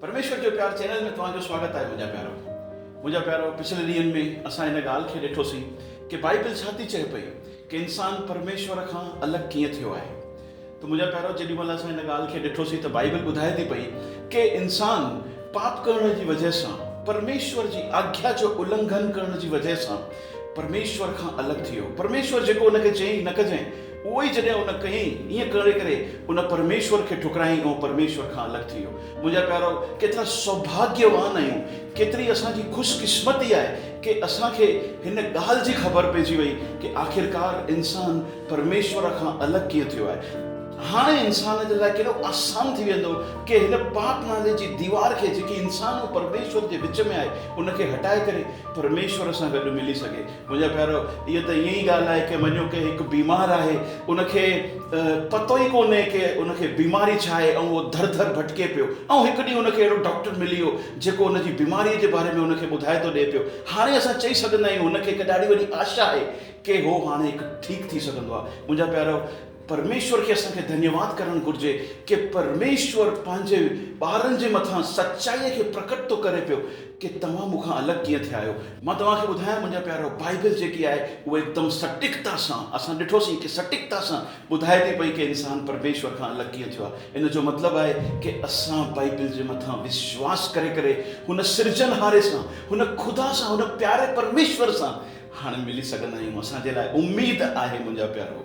پرميشور جو پيار چينل ۾ توهان جو سواگت آهي منهنجا پيارو منهنجا پيارو پڇلي ڏينهن ۾ اسان ان ڳالهه کي ڏٺو سين ڪي بائيبل ڇا ٿي چئي پئي ڪي انسان پرميشور کان الڳ ڪيئن ٿيو آهي ته منهنجا پيارو جيڏي مهل اسان ان ڳالهه کي ڏٺو سين ته بائيبل ٻڌائي ٿي پئي ڪي انسان پاپ ڪرڻ جي وجهه سان پرميشور جي آگيا جو النگهن ڪرڻ جي وجهه سان پرميشور کان الڳ ٿيو پرميشور جيڪو ان کي چئي نه ڪجين اهو ئي جڏهن ان ڪيئي، ائين ڪري ڪري ان پرميشور کي ٺڪرايائين ۽ هو پرميشور کان الڳ ٿي ويو. منهنجا پيارو، ڪيترا سوڀاگيوان آهيون، ڪيتري اسان جي خوش قسمتي آهي ڪي اسان کي هن ڳالهه جي خبر پئجي وئي ڪي آخرڪار انسان پرميشور کان الڳ ڪيئن ٿيو آهي. هاڻي انسان جي لاء ڪيڏو آسان ٿي ويندو ڪي هن پاپ نالي جي ديوار کي جيڪي انسان ۽ پرميشور جي وچ ۾ آهي ان کي هٽائي ڪري پرميشور سان گڏ ملي سگهي. منهنجا پيارو اها ته ائين ئي ڳالهه آهي ڪي مڃيو ڪي هڪ بيمار آهي ان کي پتو ئي ڪونهي ڪي ان کي بيماري ڇا آهي ۽ اهو ڌر ڌر ڀٽڪي پيو ۽ هڪ ڏينهن ان کي اهڙو ڊاڪٽر ملي ويو جيڪو ان جي بيماري جي باري ۾ ان کي ٻڌائي ٿو ڏي پيو هاڻي اسان چئي سگهندا آهيون هن کي هڪ ڏاڍي وڏي آشا آهي ڪي هو هاڻي هڪ ٺيڪ ٿي سگهندو آهي منهنجا پيارو پرميشور کي اسان کي ڌنيواد ڪرڻ گهرجي ڪي پرميشور پنهنجي ٻارن جي مٿان سچائي کي پرڪٽ ٿو ڪري پيو ڪي توهان مون کان الڳ ڪيئن ٿيا آهيو مان توهان کي ٻڌايان منهنجا پيارو بائيبل جيڪي آهي اهو هڪدم سٽيڪتا سان اسان ڏٺوسين ڪي سٽيڪتا سان ٻڌائي ٿي پئي ڪي انسان پرميشور کان الڳ ڪيئن ٿيو آهي ان جو مطلب آهي ڪي اسان بائيبل جي مٿان وشواس ڪري ڪري هن سرجنهاري سان هن خدا سان هن پياري پرميشور سان هاڻ ملي سگهندا آهيون اسان جي لاء اميد آهي منهنجا پيارو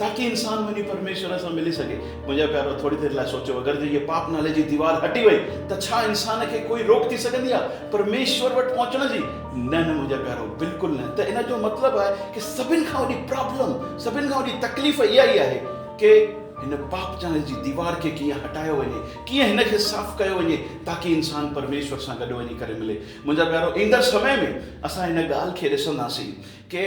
تاڪي انسان وڃي پرميشور سان ملي سگهي. منهنجا پيارو ٿوري دير لاء سوچيو اگر جي هيء پاپ نالي جي ديوار هٽي وئي ته ڇا انسان کي ڪوئي روڪ ٿي سگهندي آ پرميشور وٽ پهچڻ جي؟ نه نه منهنجا پيارو بلڪل نه ته ان جو مطلب آهي ڪي سڀن کان وڏي پرابلم سڀن کان وڏي تڪليف اها ئي آهي ڪي هن پاپ نالي جي ديوار کي ڪيئن هٽايو وڃي ڪيئن هن کي صاف ڪيو وڃي تاڪي انسان پرميشور سان گڏ وڃي ڪري ملي منهنجا پيارو ايندڙ سمي ۾ اسان ان ڳالهه کي ڏسنداسين ڪي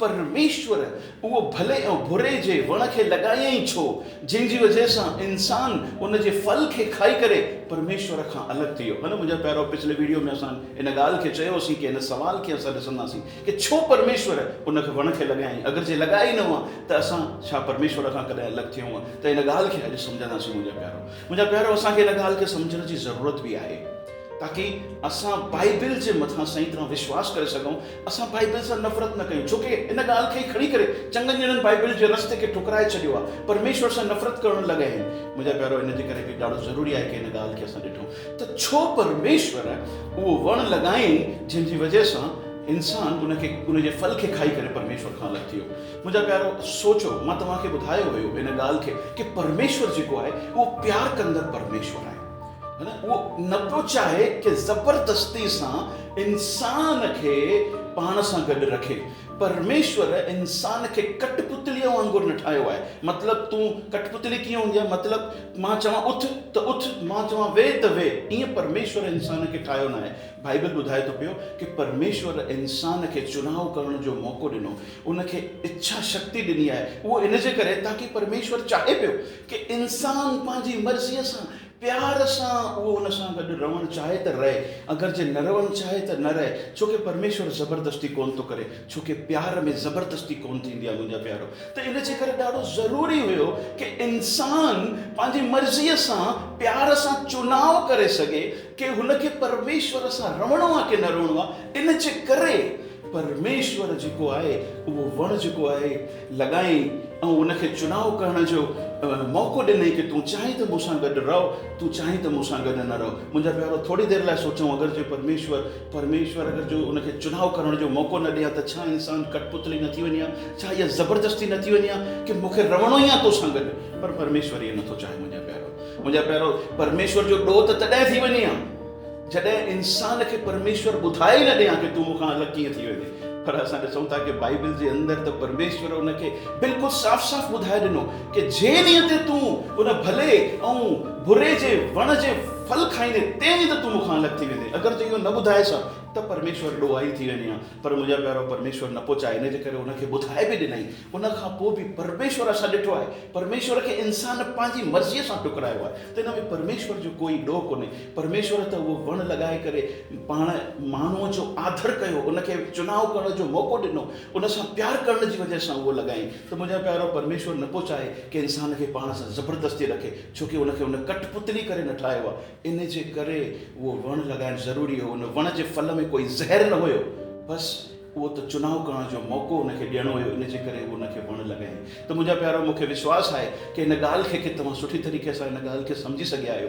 پرميشور اهو ڀلي ۽ بري جي وڻ کي لڳايائين ڇو، جنهن جي وجهه سان انسان ان جي ڦل کي کائي ڪري پرميشور کان الڳ ٿي ويو. ها نه منهنجا پيارو پڇلي ويڊيو ۾ اسان ان ڳالهه کي چيو هوسين ڪي هن سوال کي اسان ڏسنداسين ڪي ڇو پرميشور ان کي وڻ کي لڳايائين اگر جي لڳايا ئي نه هئا ته اسان ڇا پرميشور کان ڪڏهن الڳ ٿيون ها ته ان ڳالهه کي اڄ سمجهنداسين منهنجا پيارو منهنجا پيارو اسان کي ان ڳالهه کي سمجهڻ جي ضرورت به آهي. تاڪي اسان بائبل جي مٿان صحيح طرح وشواس ڪري سگهون، اسان بائبل سان نفرت نه ڪيون، ڇوڪه ان ڳالهه کي ئي کڻي ڪري چڱن ڄڻن بائبل جي رستي کي ٺڪرائي ڇڏيو آهي، پرميشور سان نفرت ڪرڻ لڳا آهن. منهنجا پيارو، ان جي ڪري به ڏاڍو ضروري آهي ڪي ان ڳالهه کي اسان ڏٺون ته ڇو پرميشور اهو وڻ لڳائين جنهن جي وجهه سان انسان ان کي ان جي ڦل کي کائي ڪري پرميشور کان الڳ ٿي ويو. منهنجا پيارو سوچو، مان توهان کي ٻڌايو هيو ان ڳالهه کي ڪي پرميشور جيڪو آهي اهو پيار ڪندڙ پرميشور آهي. هن اهو نه پيو چاهي ڪي زبردستي سان انسان کي پاڻ سان گڏ رکي. پرميشور انسان کي ڪٽ پتليء وانگر نه ٺاهيو آهي. مطلب تون ڪٽ پتلي ڪيئن هوندي آهي مطلب مان چوان اٿ ته اٿ مان چوان ويهه ته ويهه ائين پرميشور انسان کي ٺاهيو ناهي. بائيبل ٻڌائي ٿو پيو ڪي پرميشور انسان کي چناء ڪرڻ جو موقعو ڏنو. ان کي اڇا شڪتي ڏني آهي. اهو ان جي ڪري تاڪي پرميشور چاهي پيو ڪي انسان پنهنجي مرضيء سان پيار سان اهو ان سان گڏ رهڻ چاهي ته رهي اگرچه نه رهڻ چاهي ته نه رهي ڇوڪه پرميشور زبردستي ڪونه ٿو ڪري ڇوڪه پيار ۾ زبردستي ڪونه ٿيندي آهي منهنجا پيارو ته ان جي ڪري ڏاڍو ضروري هيو ڪي انسان پنهنجي مرضيء سان پيار سان چوناء ڪري سگهي ڪي هن کي پرميشور سان رهڻو آهي ڪي نه رهڻو آهي ان جي ڪري پرميشور جيڪو آهي اهو وڻ جيڪو آهي لڳائين ۽ ان کي چناء ڪرڻ جو موقعو ڏنئين ڪي تون چاهين ته مون سان گڏ رهه تون چاهين ته مون سان گڏ نه رهه منهنجا پيارو ٿوري دير لاء سوچون اگر جي پرميشور پرميشور اگر جو ان کي چناء ڪرڻ جو موقعو نه ڏئي ها ته ڇا انسان ڪٽ پتلي نه ٿي وڃي ها ڇا اها زبردستي نه ٿي وڃي ها ڪي مون کي رهڻو ئي آهي تو سان گڏ پر پرميشور ائين نه ٿو چاهي منهنجا پيارو منهنجا پيارو پرميشور جو ڏوهه ته تڏهن ٿي وڃي ها جڏهن انسان کي پرميشور ٻڌائي ئي نه ڏي ها ڪي تون مون کان الڳ ڪيئن ٿي ويندين پر اسان ڏسون ٿا ڪي بائيبل جي اندر ته پرميشور ان کي بلڪل صاف صاف ٻڌائي ڏنو ڪي جنهن ڏينهن تي تون ان ڀلي ۽ بري جي وڻ جي ڦل کائيندين تنهن ڏينهن ته تون مون کان الڳ ٿي ويندين اگر تون اهو نه ٻڌائيس ها ته پرميشور ڏوهائي ٿي وڃي ها پر منهنجا پيارو پرميشور نه پچائي ان جي ڪري ان کي ٻڌائي به ڏنائين ان کان پوء به پرميشور اسان ڏٺو آهي پرميشور کي انسان پنهنجي مرضي سان ٽڪرايو آهي ته ان ۾ پرميشور جو ڪوئي ڏوهه ڪونهي پرميشور ته اهو وڻ لڳائي ڪري پاڻ ماڻهوء جو آڌر ڪيو، ان کي چناء ڪرڻ جو موقعو ڏنو، ان سان پيار ڪرڻ جي وجه سان اهو لڳائين ته منهنجا پيارو پرميشور نه پو چاهي ڪنهن انسان کي پاڻ سان زبردستي رکي، ڇو ڪي ان کي هن ڪٽ پتلي ڪري نه ٺاهيو آهي. ان جي ڪري اهو وڻ لڳائڻ ضروري هو، ان وڻ جي ڦل ۾ ڪوئي زهر نه هيو، بس اهو ته چناء ڪرڻ جو موقعو ان کي ڏيڻو هيو، ان جي ڪري اهو ان کي وڻ لڳائين ته منهنجا پيارو مون کي وشواس آهي ڪي هن ڳالهه کي ڪي توهان سٺي طريقي سان هن ڳالهه کي سمجهي سگهيا آهيو،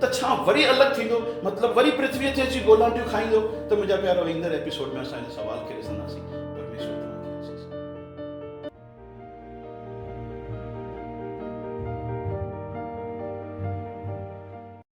ته ڇا وري الڳ ٿيندو؟ مطلب وري پرٿويء تي اچي گولانٽيون کائيندو؟ ته منهنجا پيارو ايندڙ ايپيسوڊ ۾ اسان هن سوال کي ڏسنداسين. پرميشور توهان کي آسيس ڏي.